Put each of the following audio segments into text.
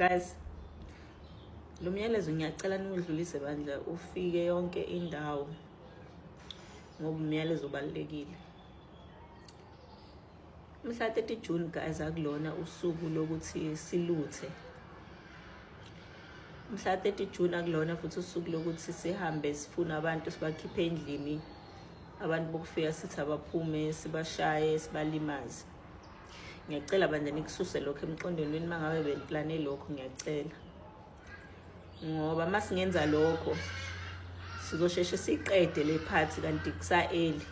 guys lo myalezo ngiyacela niwudlulise bandla ufike yonke indawo ngoba umyalezo obalulekile mhla 30 June guys akulona usuku lokuthi siluthe mhla 30 June akulona futhi usuku lokuthi sihambe sifuna abantu sibakhiphe endlini abantu bokufika sithi abaphume sibashaye sibalimaze ngiyacela bandla nikususe lokho emqondweni wenu uma ngabe beniplane lokho ngiyacela ngoba uma singenza lokho sizosheshe siqede le phathi kanti kusa-eli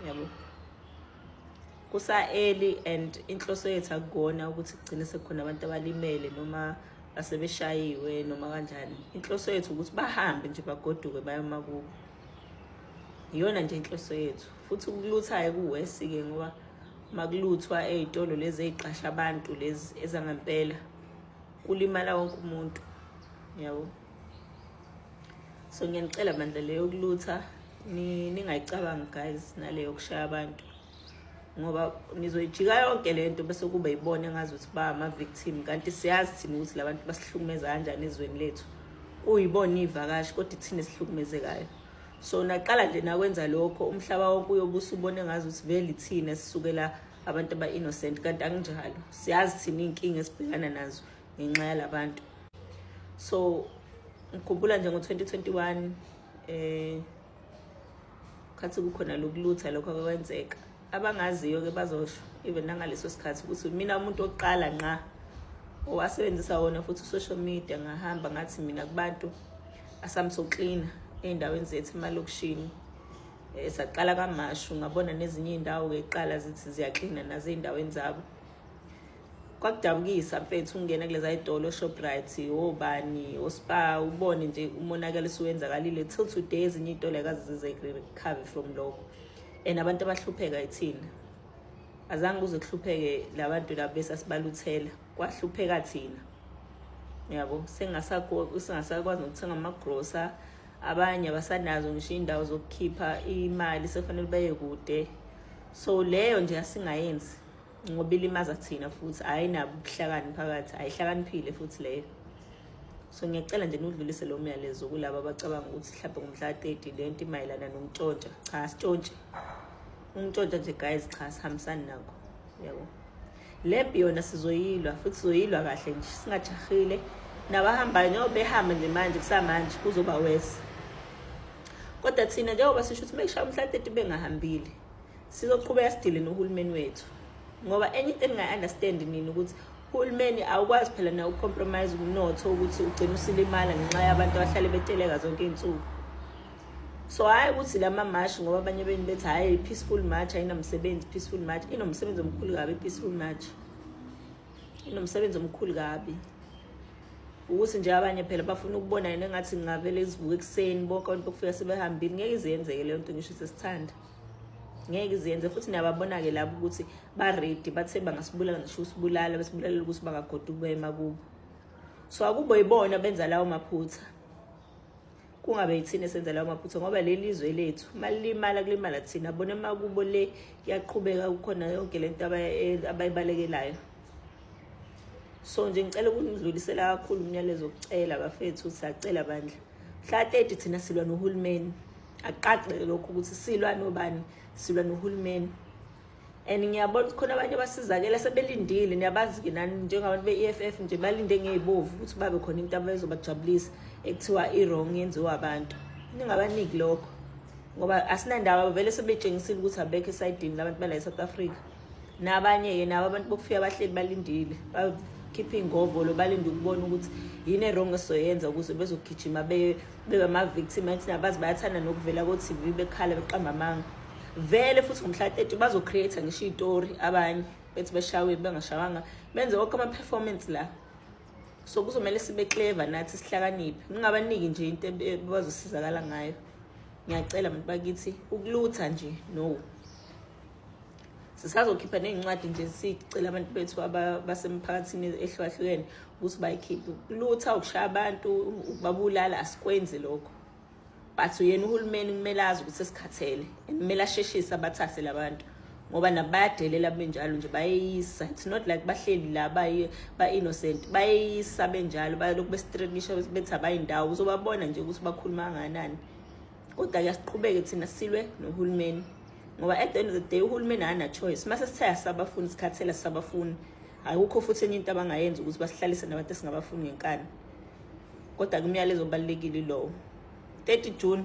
yabo kusa-eli and inhloso yethu akukona ukuthi kugcine sekukhona abantu abalimele noma asebeshayiwe noma kanjani inhloso yethu ukuthi bahambe nje bagoduke bayomakubo iyona nje inhloso yethu futhi ukuluthayo kuwesi-ke ngoba makuluthwa ey'tolo lezi ey'qasha abantu lezi ezangempela kulimala wonke umuntu yabo so ngiyanicela bandla leyo yokulutha ningayicabangi guys naleyo yokushaya abantu ngoba nizoyijika yonke le nto bese kuba yibona engazi ukuthi ba ama-victim kanti siyazi thina ukuthi la bantu basihlukumeza kanjani ezweni lethu kuyibona iy'vakashi kodwa ithina esihlukumezekayo so naqala nje nakwenza lokho umhlaba wonke uyobe usubone ngazi ukuthi vele ithina sisukela abantu aba-innocent kanti anginjalo siyazi thina iy'nkinga esibhekana nazo ngenxa yalabantu so ngikhumbula nje ngo-2021 eh khathi kukhona lokulutha lokho akwenzeka abangaziyo ke bazosho even nangaleso sikhathi ukuthi mina umuntu oqala nqa owasebenzisa wona futhi social media ngahamba ngathi mina kubantu asamsoklina ey'ndaweni zethu emalokishini um saqala kamashu ngabona nezinye iy'ndawo-ke kuqala zithi ziyaklina nazo ey'ndaweni zabo kwakudabukisa mfethu ungena kuleza yitolo oshoprite obani ospa ubone nje umonakalo usuwenzakalile till today ezinye iy'tolo ayikaze zize recover from lokho and abantu abahlupheka ithina azange kuze kuhlupheke labantu labo besasibaluthela kwahlupheka thina yabo singasakwazi nokuthenga amagrosa abanye abasanazo ngisho iy'ndawo zokukhipha imali sekufanele baye kude so leyo nje asingayenzi ngoba ilimaza thina futhi ayinabo ubuhlakani phakathi ayihlakaniphile futhi leyo so ngiyacela nje niwudlulise lo myalezo kulabo abacabanga ukuthi mhlawumbe ngomhla ka-thirty le nto imayelana nokuntshontsha cha sitshontshe ukuntshontsha nje guys cha sihambisani nako yabo le mpi yona sizoyilwa futhi sizoyilwa kahle nje singajahile nabahambayo njengoba behamba nje manje kusamanje kuzoba wese kodwa thina njengoba sisho ukuthi uma kushaya umhla ka-thirty bengahambile sizoqhubeka sidile nohulumeni wethu ngoba enye into engingayi-understand nini ukuthi uhulumeni awukwazi phela na ucompromise umnotho ukuthi ugcine usilimala ngenxa yabantu abahlale beteleka zonke iy'nsuku so hhayi ukuthi la mamashi ngoba abanye beni bethi hhayi peaceful march ayinamsebenzi peaceful march inomsebenzi omkhulu kabi i-peaceful march inomsebenzi omkhulu kabi ukuthi nje abanye phela bafuna ukubona yena engathi ngingavele izivuke ekuseni bonke abantu bokufika sebehambile ngeke iziyenzeke leyo nto ngisho sesithanda ngeke iziyenze futhi niyababona-ke labo ukuthi baredi bathe bangasibulala ngisho usibulala besibulalela ukuthi bangagoda ukubema kubo so akubo yibona benza lawo maphutha kungabe yithina esenza lawo maphutha ngoba leli izwe lethu malimala kulimala thina bona makubo le kuyaqhubeka kukhona yonke le nto abayibalekelayo so nje ngicela ukunidlulisela kakhulu umyalezo kucela bafethu siyacela bandla mhla 30 thina silwa nohulumeni akuqaqeke lokho ukuthi silwa nobani silwa nohulumeni and ngiyabona ukuthi khona abanye abasizakela sebelindile niyabazi-ke nani njengabantu be-e f f nje balinde ngey'bovu ukuthi babe khona into abezobajabulisa ekuthiwa i-wrong yenziwa abantu ningabaniki lokho ngoba asinandaba vele sebetshengisile ukuthi abekho esayidini labantu bala e-south africa nabanye-ke nabo abantu bokufika bahleli balindile bakhiphe iy'ngovolo balinde ukubona ukuthi yini erong esizoyenza ukuze bezogijima beye bebama-victim athi nabazi bayathanda nokuvela ko-tv bekhala beqamba amanga vele futhi ngomhla 30 bazo-create-a ngisho itori abanye bethi bashawe bengashawanga benze konke ama-performance la so kuzomele sibe clever nathi sihlakaniphe ningabaniki nje into bazosizakala ngayo ngiyacela bantu bakithi ukulutha nje no sisazokhipha ney'ncwadi nje sicela abantu bethu basemphakathini ehlukahlukene ukuthi bayikhiphe kulutha ukushaya abantu babulala asikwenzi lokho but uyena uhulumeni kumele azi ukuthi esikhathele and kumele asheshise abathathe labantu ngoba nabo bayadelela benjalo nje bayeyisa it's not like bahleli la ba-innocent bayeyisa benjalo balokhu bestrikisha bethi abayindawo uzobabona nje ukuthi bakhuluma kanganani kodwa kuyasiqhubeke thina silwe nohulumeni ngoba at the end of the day uhulumeni akana-choice uma sesithaya sabafuni sikhathela sabafuni akukho futhi enye into abangayenza ukuthi basihlalise nabantu esingabafuni ngenkani kodwa kumyalezo obalulekile lowo 30 june